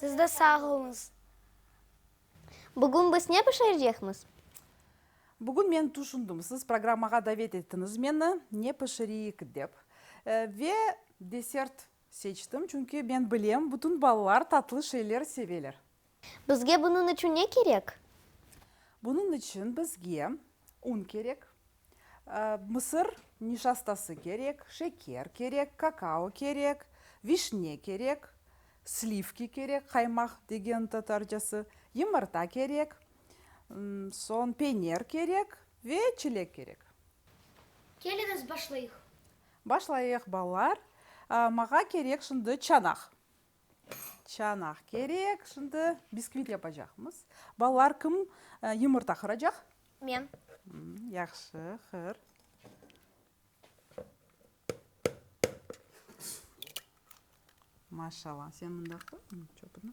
Siz de sağ oluñız. Bugün biz ne pişirecekmiz? Bugün men tüşündim, siz programmağa davet ettiniz meni, ne pişireyik dep. Ve desert seçtim, çünki men bilem, bütün balalar tatlı şeyler seveler. Bizge bunıñ içün ne kerek? Bunıñ içün bizge un kerek. Mısır nişastası kerek, şeker kerek, kakao kerek, vişne kerek, slivki kerek, qaymaq degen tatarcası, yımırta kerek, soñ peyner kerek ve çilek kerek. Keliñiz, başlayıq. Başlayıq, balalar. Maña kerek şimdi çanaq. Çanaq kerek, şimdi biskvit yapacaqmız. Balalar, kim yumurta qıracaq? Men. Yahşı, qır. Maşallah, sen mında qır, çöpüni.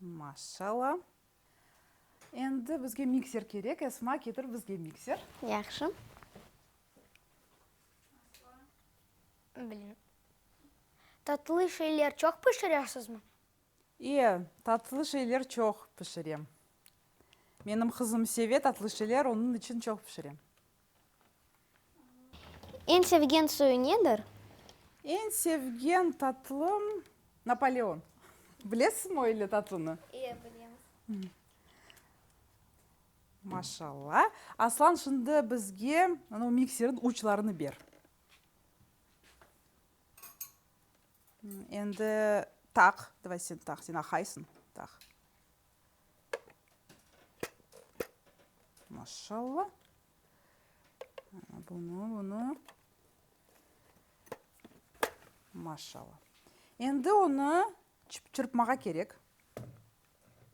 Maşalla. Endi bizge mikser kerek. Esma, ketir bizge mikser. Yahşı. Bilmirim. Tatlı şeyler çoq pişiresizmi? İe, tatlı şeyler çoq pişirem. Menim qızım seve tatlı şeyler, onıñ içün çoq pişirem. Eñ sevgen suyu nedir? Eñ sevgen tatlım, Napoleon. Bilesizmi o öyle tatlını? İyi, bilemiz. Maşallah. Aslan, şimdi bizge o mikserin uçlarını ber. Endi taq, davay sen taq, sen aqaysıñ, taq. Maşşalla. Bunı, bunı. Maşşalla. Endi onı çırpmağa kerek.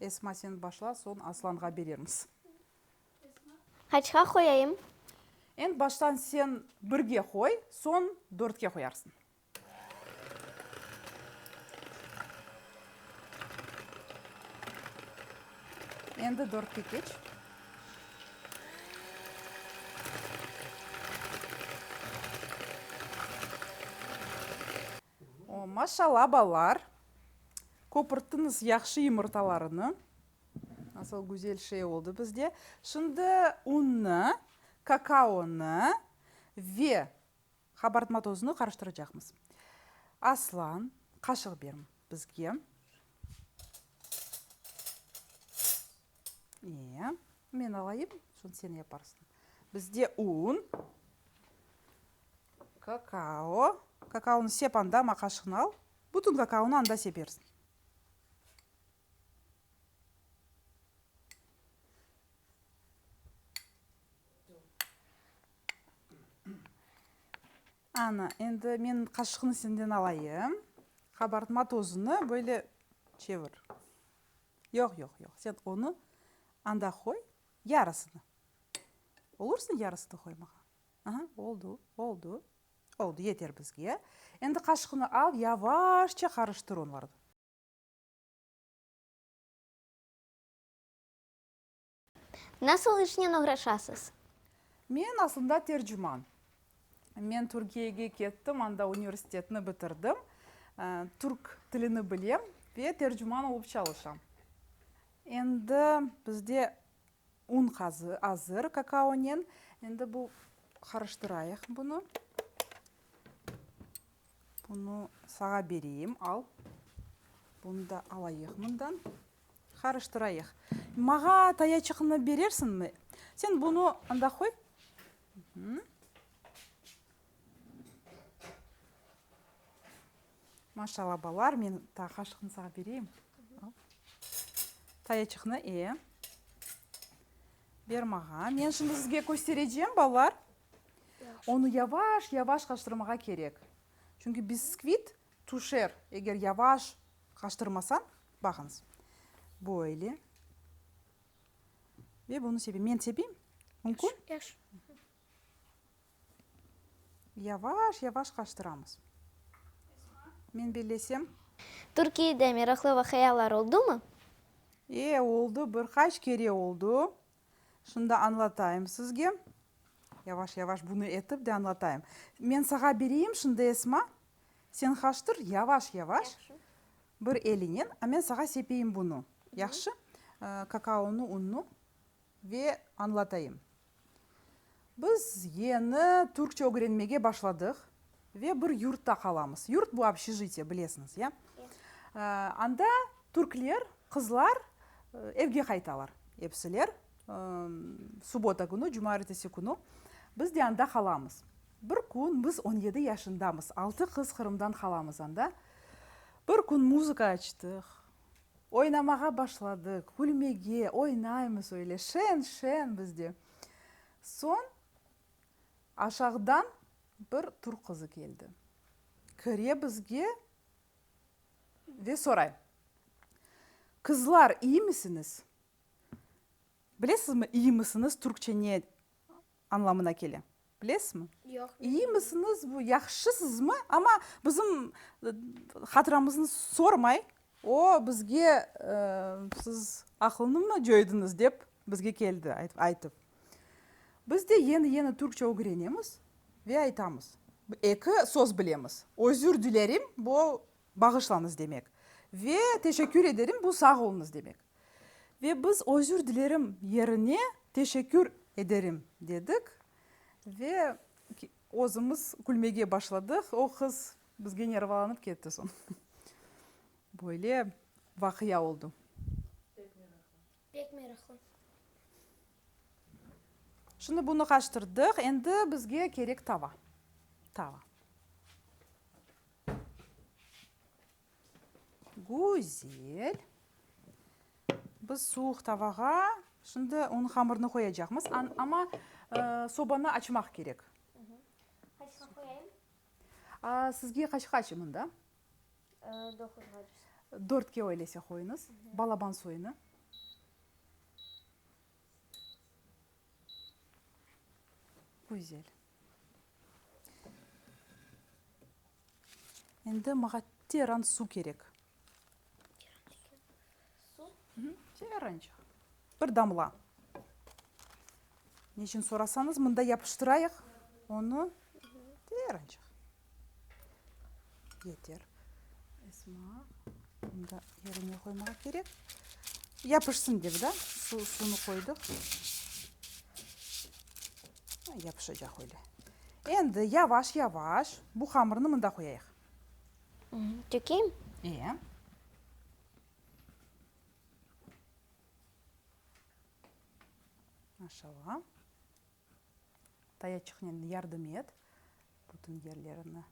Esma, sen başla, soñ Aslanğa berermiz. Qaçqa qoyayım? Endi baştan sen birge qoy, soñ dörtke qoyarsıñ. Endi dörtke keç. O, maşallah, balalar! Köpürttiniz yahşı yumurtalarını. Nasıl güzel şey oldı bizde. Şimdi unnı, kakaonı ve Qabartma tozunu qarıştıracaqmız. Aslan, qaşıq ber bizge. Ee, men alayım, soñ sen yaparsıñ. Bizde un, kakao, kakaonı sep anda, amma qaşığını al. Bütün kakaonı anda sepersiñ. Ana, endi men qaşıqnı senden alayım. Qabartma tozunı böyle çevir. Yoq, yoq, yoq, sen onı anda qoy, yarısını. Olursa yarısını qoymağa. Aha, oldu, oldu, oldu, yeter bizge. Endi qaşıqnı al, yavaşça qarıştır onlarnı. Nasıl işnen oğraşasız? Men aslında tercüman. Men Türkiyege kettim, anda universitetni bitirdim. Türk tilini bilem ve tercüman olıp çalışam. Endi bizde un azır kakaonen. Endi bu qarıştırayıq bunı. Bunı sağa bereyim, al. Bunı da alayıq mından. Qarıştırayıq. Mağa tayaçıqnı berersiñmi? Sen bunı anda qoy. Maşallah, balalar, men qaşıqnı sağa bereyim. Tayaçıqnı, e. Ber mağa. Men şimdi sizge kösterecem, balalar. Onı yavaş-yavaş qaştırmağa kerek. Çünki biskvit tüşer, eger yavaş qaştırmasañ. Baqıñız, böyle. Ve bunı sepem. Men sepeyim? Mümkün? Yaxşı. Yavaş-yavaş qaştıramız. Men bellesem. Türkiyede meraqlı vaqıalar oldumı? E, oldı, bir qaç kere oldı. Şunda añlatayım sizge. Yavaş-yavaş bunı etip de añlatayım. Men sağa bereyim şimdi, Esma. Sen qaştır, yavaş-yavaş, bir elinen, a men sağa sepeyim bunı. Yahşı? Kakaonı, unnı ve añlatayım. Biz yeni türkçe ögrenmege başladıq ve bir yurtta qalamız. Yurt bu obşejitiye, bilesiñiz, ya? Anda türkler, qızlar evge qaytalar epsiler, subota künü, cuma ertesi künü. Biz de anda qalamız. Bir kün, biz on yedi yaşındamız, altı qız Qırımdan qalamız anda. Bir kün muzıka açtıq, oynamağa başladıq, külmege, oynaymız öyle, şeñ-şeñ biz de. Soñ aşağıdan bir türk qızı keldi. Kire bizge ve soray, Qızlar, iyimisiniz? Bilesizmi, iyimisiniz türkçe ne anlamına kele? Bilesizmi? Yoq, bilmeyim. İyimisiniz, bu yahşısızmı? Amma bizim hatıramıznı sormay, o bizge siz aqılnımı cöydiniz dep bizge keldi aytıp. Biz de yeni-yeni türkçe ögrenemiz ve aytamız. Eki söz bilemiz, özür dilerim, bu Bağışlañız demek. Ve teşekkür ederim bu sağ oluñız demek. Ve biz özür dilerim yerine teşekkür ederim dedik ve özümiz külmege başladıq. O qız bizge nervalanıp ketti soñ. Böyle vaqia oldu. Pek meraklı. Şimdi bunı qaştırdıq, endi bizge kerek tava. Tava. Güzel. Biz suvuq tavağa şimdi onıñ hamırını qoyacaqmız, amma sobanı açmaq kerek. Sizge qaç qaç mında? Doquzğa cüz. Dörtke öyleyse qoyunız. Balaban soyunı. Güzel. Endi mağa teran su kerek. Su? Terenç. Bir damla. Ne içün sorasañız, mında yapıştırayıq onı. Terenç. Yeter. Esma, mında yerine qoymağa kerek. Yapışsın dep, da, su, suvnı qoydıq. Yapışacaq öyle. Endi yavaş-yavaş bu hamırnı mında qoyayıq. Tökeyim? Ee. Maşallah. Tayaçıqnen yardım et, bütün yerlerini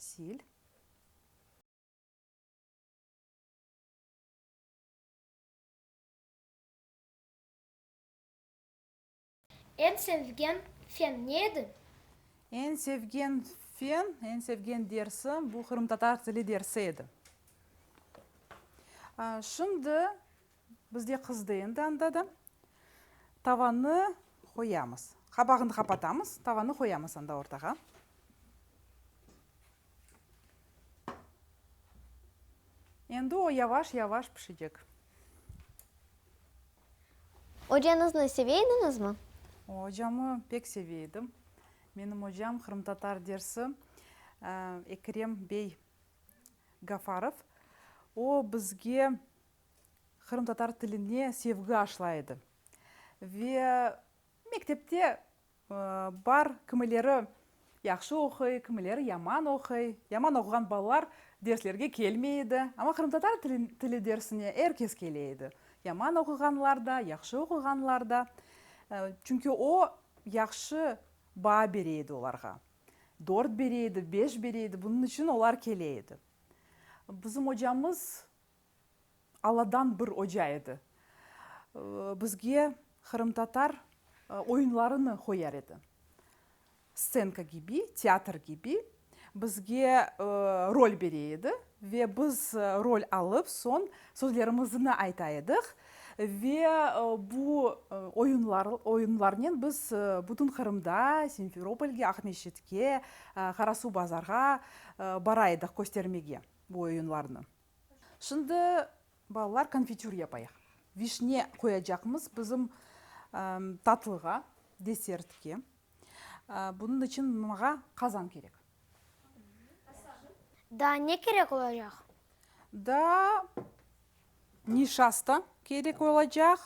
sil. Eñ sevgen fen ne edi? Eñ sevgen fen, eñ sevgen dersim, bu qırımtatar tili dersi edi. Şimdi bizde qızdı endi anda da. Tavanı qoyamız. Qabağını qapatamız, tavanı qoyamız anda ortağa. Endi o yavaş-yavaş pişecek. Ocanıznı seveydiñizmi? Ocamı pek seveydim. Menim ocam qırımtatar dersi Ekrem bey Gafarov. O, bizge qırımtatar tiline sevgi aşlay edi. Ve Mektepte bar, kimileri yahşı oquy, kimileri yaman oquy. Yaman oquğan balalar derslerge kelmey edi. Amma qırımtatar tili dersine er kes kele edi, yaman oquğanlar da, yahşı oquğanlar da. Çünki o, yahşı baa bere edi olarğa. Dört bere edi, beş bere edi, bunıñ içün olar kele edi. Bizim ocamız Alladan bir oca edi. Bizge qırımtatar oyunlarını qoyar edi. Stenka kibi, teatr kibi. Bizge rol bere edi ve biz rol alıp, soñ sözlerimizni ayta ediq. Ve bu oyunlar, oyunlarnen biz bütün Qırımda, Simferopolge, Aqmescitke, Qarasuvbazarğa bara ediq köstermege bu oyunlarnı. Şimdi balalar konfitür yapayıq. Vişne qoyacaqmız bizim tatlığa, desertke. Bunıñ içün mağa qazan kerek. Daa ne kerek olacaq? Daa nişasta kerek olacaq,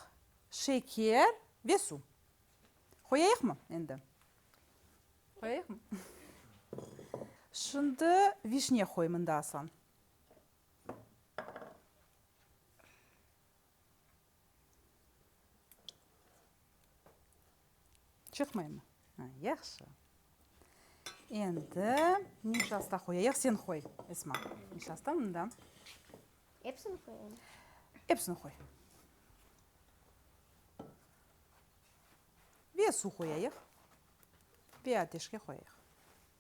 şeker ve suv. Qoyayıqmı endi? Qoyayıqmı? Şimdi vişne qoy mında, Aslan. Çıqmaymı? Ha, yahşı. Endi nişasta qoyayıq. Sen qoy, Esma, nişasta mında. Epsini qoyayım? Epsini qoy. Ve suv qoyayıq. Ve ateşke qoyayıq.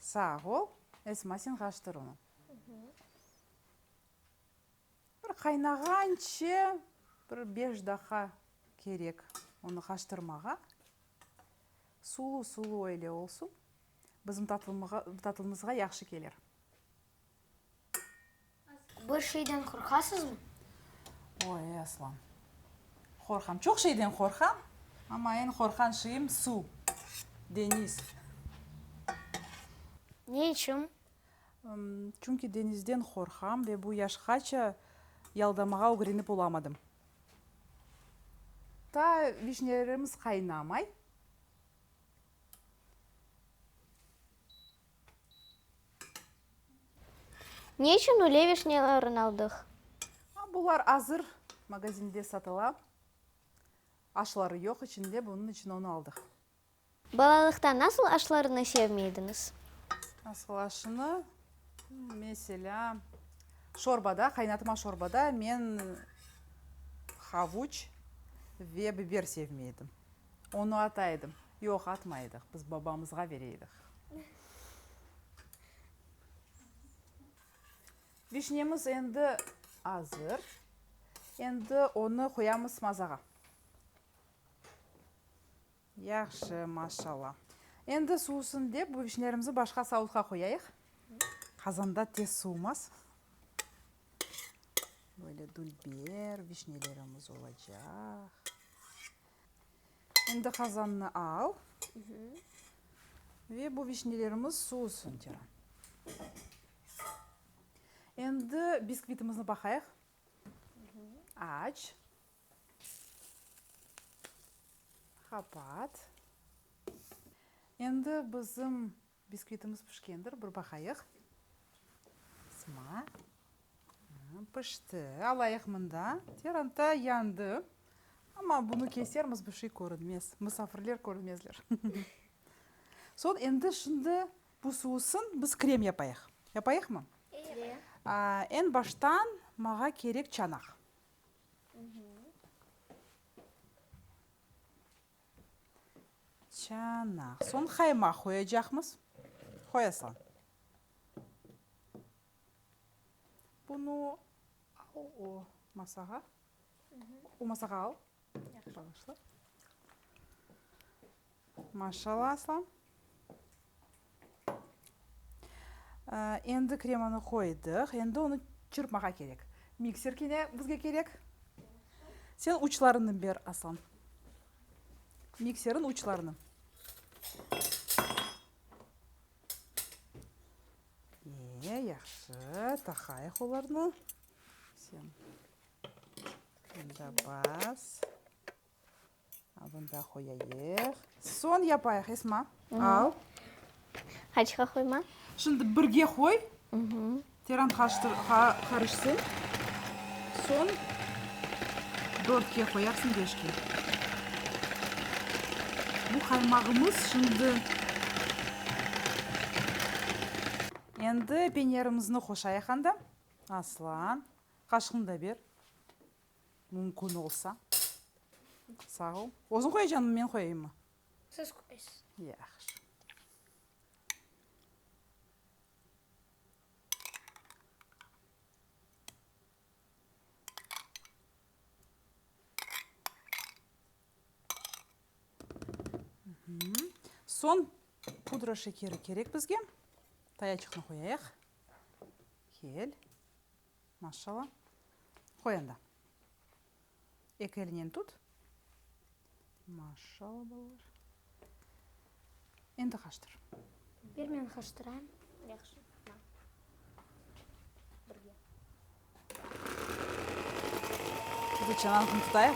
Sağ ol, Esma, sen qaçtır onı. Bir qaynağance bir beş daqa kerek onı qaçtırmağa. Sulu-sulu öyle olsun. Bizim tatlımığa, tatlımızğa yahşı kelir. Bir şeyden qorqasızmı? Oy, ey aslan! Qorqam, çoq şeyden qorqam, amma eñ qorqqan şeyim, suv, deñiz. Ne içün? Çünki deñizden qorqam ve bu yaşqaça yaldamağa ögrenip olamadım. Ta vişnelerimiz qaynamay. Ne içün üle vişnyalarnı aldıq? Bular azır magazinde satıla. Aşları yoq içinde, bunıñ içün onı aldıq. Balalıqta nasıl aşlarnı sevmey ediñiz? Nasıl aşnı? Meselâ, şorbada, qaynatma şorbada men havuç ve biber sevmey edim. Onı ata edim. Yoq, atmay edik, biz babamızğa bere edik. Vişnemiz endi azır. Endi onı qoyamız mazağa. Yahşı, maşallah. Endi suvusın dep, bu vişnelerimizni başqa savutqa qoyayıq. Qazanda tez suvumaz. Böyle dülber vişnelerimiz olacaq. Şimdi qazannı al ve bu vişnelerimiz suusın Ceren. Endi biskvitimizni baqayıq. Aç. Qapat. Endi bizim Biskvitimiz pişkendir, bir baqayıq. Sıma. Pişti. Alayıq mında. Teranta yandı. Amma bunı kesermiz, bir şey körünmez. Musafirler körmezler. Soñ endi şimdi bu suusın biz krem yapayıq. Yapayıqmı? Eñ baştan mağa kerek çanaq. Çanaq. Soñ qaymaq qoyacaqmız. Qoy, Aslan. Bunı al o masağa. O masağa al. Yahşı. Maşallah, Aslan. Endi kremanı qoydıq, endi onı çırpmağa kerek. Mikser kene bizge kerek. Sen uçlarını ber, Aslan. Mikserin uçlarını. Eee, yahşı, taqayıq olarnı. Sen mında bas. Bunda qoyayıq. Soñ yapayıq, Esma, al. Qaçqa qoyma? Şimdi birge qoy, teran qarışsın. Soñ dörtke qoyarsıñ, beşke. Bu qaymağımız şimdi. Endi penyarımıznı qoşayıq anda. Aslan, qaşığını da ber. Mümkün olsa. Sağ ol. Özüñ qoyacañmı, men qoyayimmı? Siz qoyasız. Yahşı. Soñ pudra şekeri kerek bizge. Tayaçıqnı qoyayıq. Kel. Maşşalla. Qoy anda. Eki elinen tut. Maşşalla, balalar. Endi qaştır. Bir men qaştırayım. Yahşı. Birge. Dur, çanağını tutayıq.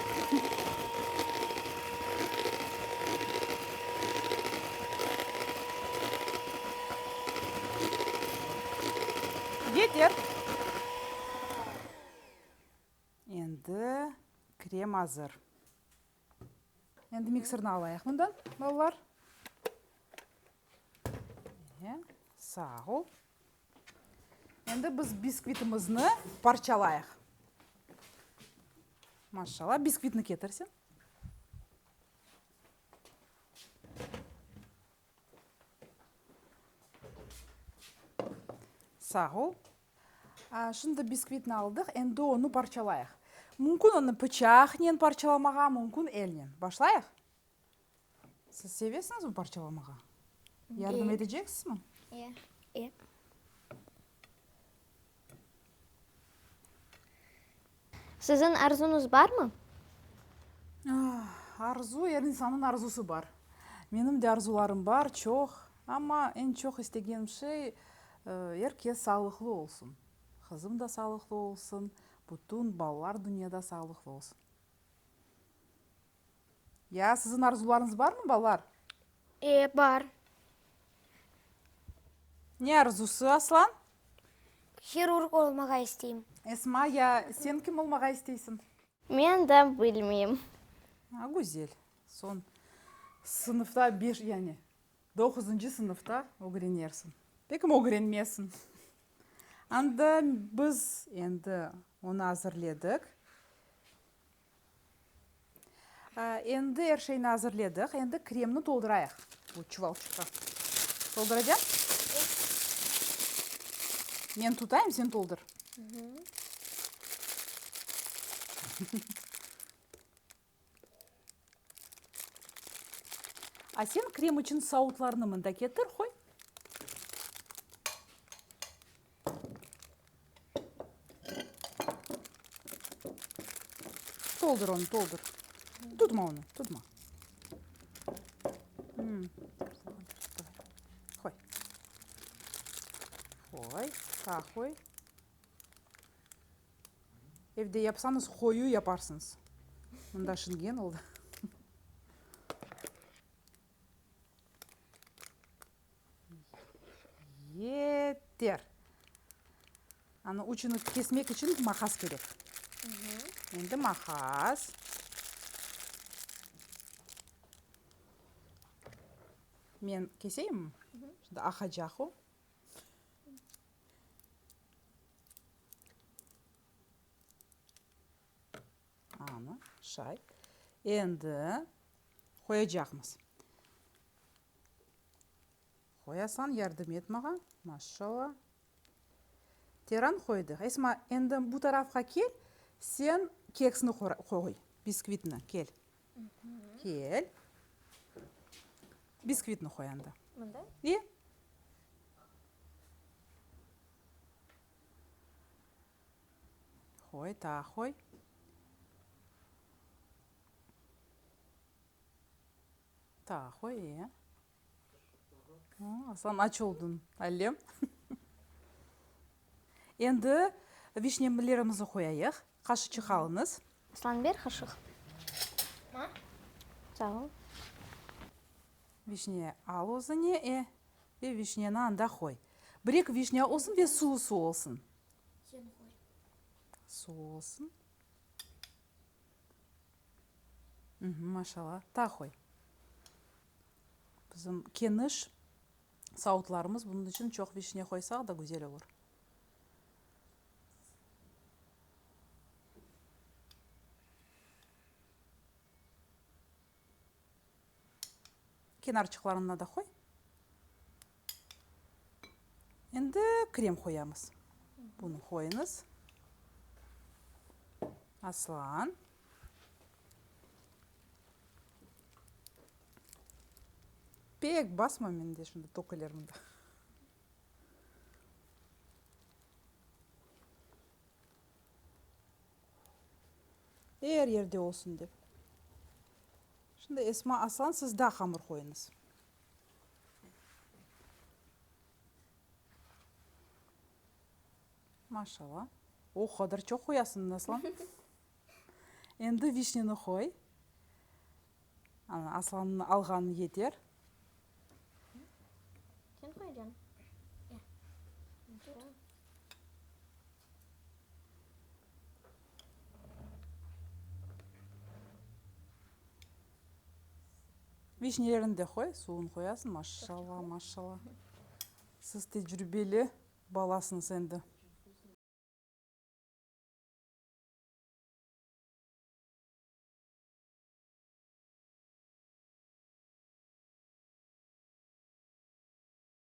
Yeter! Endi krem azır. Endi mikserni alayıq bundan, balalar. Mine, sağ ol. Endi biz biskvitimizni parçalayıq. Maşşala, biskvitni ketir sen. Sağ ol. Şimdi biskvitni aldıq, endi onı parçalayıq. Mümkün onı pıçaqnen parçalamağa, mümkün elnen. Başlayıq? Siz sevesiñizmi parçalamağa? Yardım eteceksinizmi? Ye. Siziñ arzuñız barmı? Arzu, er insannıñ arzusı bar. Menim de arzularım bar, çoq. Amma eñ çoq istegenim şey, er kes sağlıqlı olsun. Qızım da sağlıqlı olsun, bütün balalar dünyada sağlıqlı olsun. Ya, siziñ arzularıñız barmı, balalar? E, bar. Ne arzusı, Aslan? Hirurg olmağa isteyim. Esma, ya sen kim olmağa isteysiñ? Men de bilmeyim. A, güzel. Soñ sınıfta beş, yani doquzıncı sınıfta ögrenersiñ. Peki, ögrenmesiñ. Anda biz endi onı azırledik. Endi er şeyni azırledik, endi kremni toldurayıq bu çuvalçıqqa. Tolduracan? Men tutayım, sen toldur. A sen krem içün sautlarnı mında ketir, qoy. Toldur onu, toldur. Tutma onu, tutma. Hmm. Qoy. Qoy, sağa qoy. Evde yapsanız, qoyu yaparsınız. Mında şingen oldı. Ye-e-ter! Anı uçunı kesmek içün maqas kerek. Endi maqas. Men keseyim? Şimdi aqacaq o. Ana, şay. Endi qoyacaqmız. Qoyasan, yardım et mağa. Maşallah. Teran qoydıq. Esma, endi bu tarafqa kel, sen keksni qoy, biskvitni. Kel. Kel. Biskvitni qoy anda. Mında? İyi. Hoy, ta hoy. Ta hoy, e. Aslan, aç oldun, allem. Endi vişnemilerimizni qoyayıq. Qaşıçıq alıñız. Aslan, ber qaşıq. Sağ ol. Vişne al özüñe, e, ve vişneni anda qoy. Bir-eki vişne olsun ve suv-suv olsun. Sen qoy. Suv olsun. Uhmm, maşalla. Ta qoy. Bizim keniş savutlarımız, bunun içün çoq vişne qoysaq da güzel olur. Kenarçıqlarına da qoy. Endi krem qoyamız. Bunı qoyuñız. Aslan. Pek basma mende şimdi töküler mında. Er yerde olsun dep. Şimdi Esma Aslan siz daa hamır qoyuñız. Maşallah. O qadar çoq qoyasıñ, Aslan. Endi vişneni qoy. Ana, Aslannıñ alğanı yeter. Sen qoyacañ. Vişnelerini de qoy, suvun qoyasıñ. Maşşalla, maşşalla. Siz tecrübeli balasıñız endi.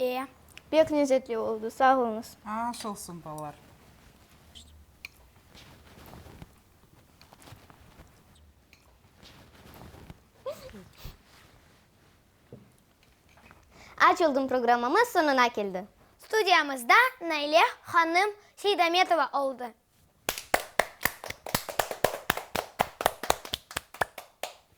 E, pek lezetli oldı, sağ oluñız. Aş olsun, balalar. Aç oldım programmamız soñuna keldi. Studiyamızda Naile hanım Seydametova oldı.